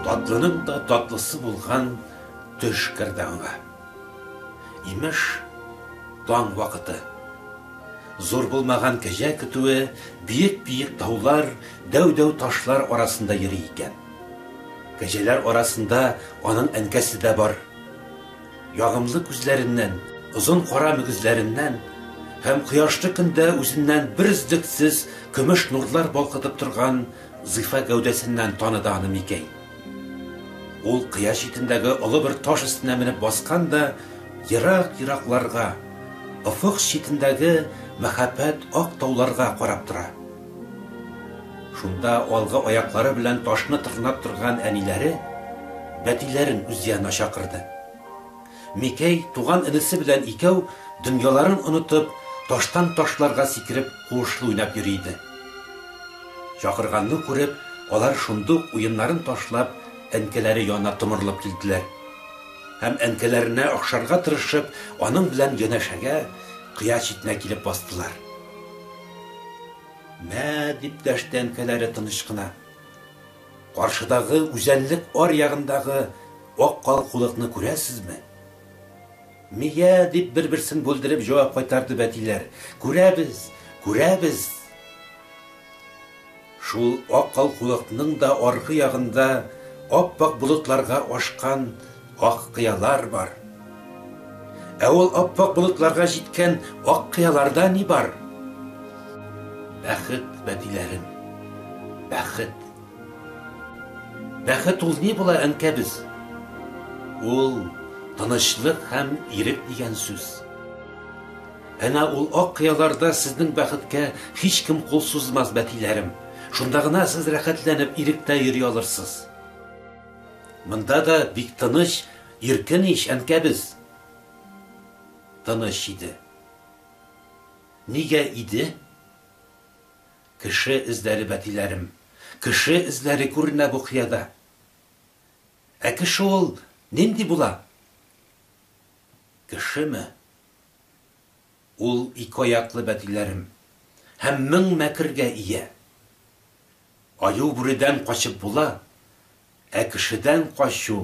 Татлының да татлысы булган төш керде аңа. Имеш, таң вакыты. Зур булмаган кәҗә көтүе биек-биек таулар, дәү-дәү ташлар арасында йөри икән. Кәҗәләр арасында аның әнкәсе дә бар. Ягымлы күзләреннән, озын кара мөгезләреннән һәм кояшлы көндә үзеннән берөзлексез көмеш нурлар балкытып торган зифа гәүдәсеннән таныды аны Микәй. Ул кыя читендәге олы бер таш өстенә менеп баскан да, ерак-еракларга, офык читендәге мәһабәт ак тауларга карап тора. Шунда алгы аяклары белән ташны тырнап торган әниләре бәтиләрен үз янына чакырды. Микәй туган энесе белән икәү, дөньяларын онытып, таштан ташларга сикереп, куышлы уйнап йөри иде. Чакырганны күреп, алар шундук уеннарын ташлап, әнкәләре янына томырылып килделәр. Һәм әнкәләренә охшарга тырышып, аның белән янәшәгә, кыя читенә килеп бастылар. Мә, дип дәште әнкәләре тыныч кына. Каршыдагы үзәнлек ар ягындагы ак калкулыкны күрәсезме? Мия, дип бер-берсен бүлдереп җавап кайтарды бәтиләр. Күрәбез, күрәбез! Шул ак калкулыкның да аргы ягында ап-ак болытларга ашкан ак кыялар бар. Ә ул ап-ак болытларга җиткән ак кыяларда ни бар? Бәхет, бәтиләрем, бәхет. Бәхет ул ни була, әнкәбез? Ул, тынычлык һәм ирек дигән сүз. Әнә ул ак кыяларда сезнең бәхеткә һичкем кул сузмас, бәтиләрем. Шунда гына сез рәхәтләнеп, иректә йөри алырсыз. Монда да бик тыныч, иркен ич, әнкәбез. Тыныч иде. Нигә иде? Кеше эзләре, бәтиләрем. Кеше эзләре күренә бу кыяда. Ә кеше ул нинди була? Кешеме? Ул ике аяклы бәтиләрем һәм мең мәкергә ия. Аю бүредән качып була, ә кешедән качу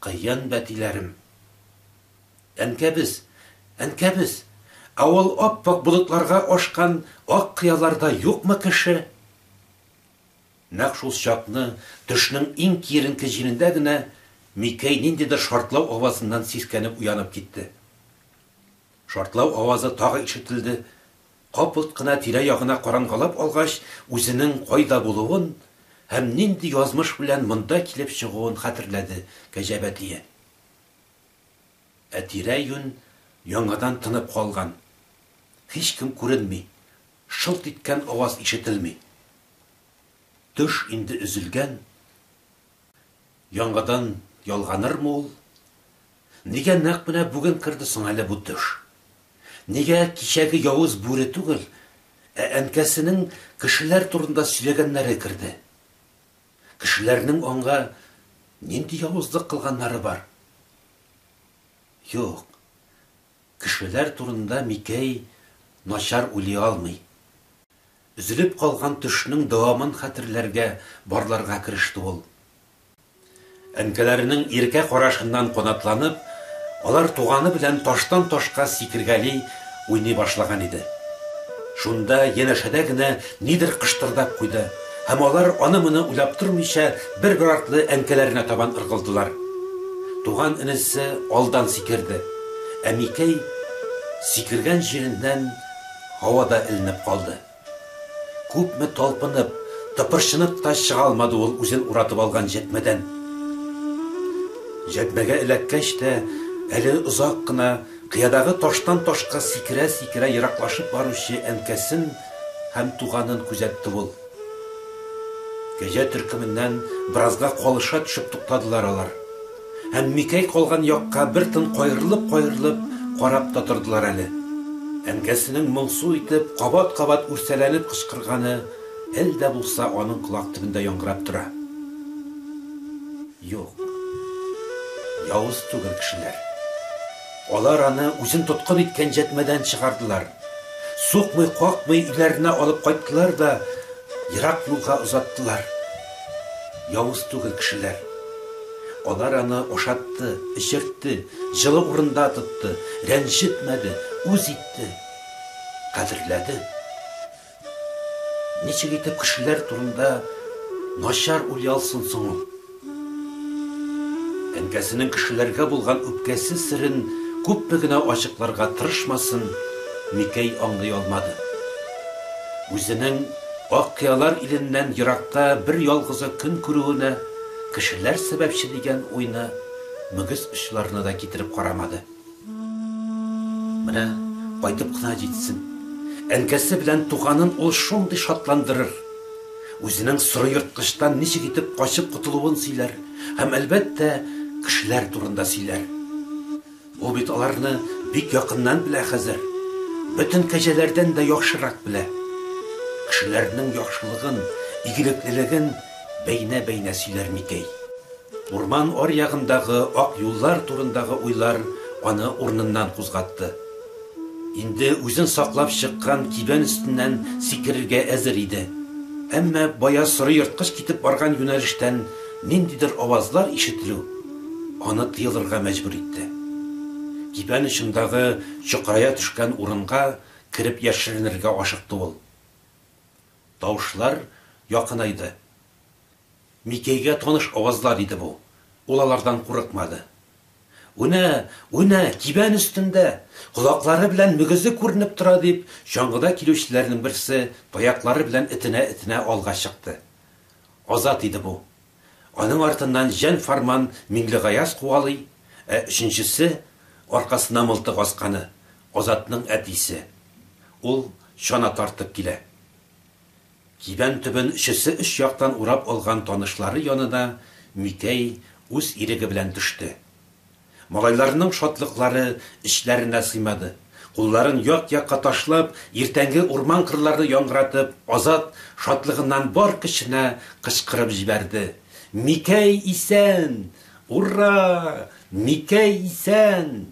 кыен бәтиләрем. Әнкәбез, әнкәбез, ә ул ап-ак болытларга ашкан ак кыяларда юкмы кеше? Нәкъ шул чакны, төшнең иң киеренке җилендә генә, Микәй ниндидер шартлау авазыннан сискәнеп уянып китте. Шартлау авазы тагы ишетелде, капылт кына тирә-ягына карангалап алгач, үзенең кайда булуын һәм нинди язмыш белән монда килеп чыгуын хәтерләде Кәҗә Бәтия. Ә тирә-юнь яңадан тынып калган. Һичкем күренми, шылт иткән аваз ишетелми. Төш инде өзелгән, яңадан ялганырмы ул? Нигә нәкъ менә бүген керде соң әле бу төш? Нигә кичәге явыз бүре түгел, ә әнкәсенең кешеләр турында сөйләгәннәре керде? Кешеләрнең аңа нинди явызлык кылганнары бар? Юк. Кешеләр турында Микәй начар уйлый алмый. Өзелеп калган төшнең дәвамын хәтерләргә, барларга кереште ул. Әнкәләренең иркә карашыннан канатланып, алар туганы белән таштан-ташка сикергәли уйный башлаган иде. Шунда, янәшәдә генә нидер кыштырдап куйды. Һәм алар, аны-моны уйлап тормыйча, бер-бер артлы әнкәләренә табан ыргылдылар. Туган энесе алдан сикерде. Ә Микәй сикергән җиреннән һавада эленеп калды. Күпме талпынып, тыпырчынып та чыга алмады ул үзен уратып алган җәтмәдән. Җәтмәгә эләккәч тә, әле озак кына. Кыядагы таштан ташка сикерә-сикерә ераклашып баручы әнкәсен һәм туганын күзәтте ул. Кәҗә төркеменнән беразга калыша төшеп туктадылар алар. Һәм Микәй калган якка бер тын каерылып-каерылып карап та тордылар әле. Әнкәсенең моңсу итеп, кабат-кабат үрсәләнеп кычкырганы әле дә булса аның колак төбендә яңгырап тора. Юк. Явыз түгел кешеләр. Алар аны үзен тоткын иткән җәтмәдән чыгардылар. Сукмый-какмый өйләренә алып кайттылар да ерак юлга озаттылар. Явыз түгел кешеләр. Алар аны ашатты, эчертте, җылы урында тотты, рәнҗетмәде, үз итте. Кадерләде. Ничек итеп кешеләр турында начар уйлый алсын соң ул? Әнкәсенең кешеләргә булган үпкәсе серен күпме генә ачыкларга тырышмасын, Микәй аңлый алмады. Үзенең Ак кыялар иленнән еракта бер ялгызы көн күрүенә кешеләр сәбәпче дигән уйны мөгез очларына да китереп карамады. Менә кайтып кына җитсен. Әнкәсе белән туганын ул шундый шатландырыр. Үзенең соры ерткычтан ничек итеп качып котылуын сөйләр һәм, әлбәттә, кешеләр турында сөйләр. Ул бит аларны бик якыннан белә хәзер. Бөтен кәҗәләрдән дә яхшырак белә. Кешеләрнең яхшылыгын, игелеклелеген бәйнә-бәйнә сөйләр Микәй. Урман аръягындагы ак юллар турындагы уйлар аны урыныннан кузгатты. Инде үзен саклап чыккан кибән өстеннән сикерергә әзер иде. Әмма бая соры ерткыч китеп барган юнәлештән ниндидер авазлар ишетелү аны тыелырга мәҗбүр итте. Кибән очындагы чокрая төшкән урынга кереп яшеренергә ашыкты ул. Тавышлар якынайды. Микәйгә таныш авазлар иде бу. Ул алардан курыкмады. Үнә, үнә, кибән өстендә! Колаклары белән мөгезе күренеп тора, дип, чаңгыда килүчеләрнең берсе таяклары белән этенә-этенә алга чыкты. Азат иде бу. Аның артыннан җан-фарман Миңлегаяз куалый, ә өченчесе, аркасына мылтык асканы, Азатның әтисе. Ул чана тартып килә. Кибән төбен өчесе өч яктан урап алган танышлары янына Микәй үз иреге белән төште. Малайларның шатлыклары эчләренә сыймады. Кулларын як-якка ташлап, иртәнге урман кырларны яңгыратып, Азат шатлыгыннан бар көченә кычкырып җибәрде, Микәй исән! Ура! Микәй исән!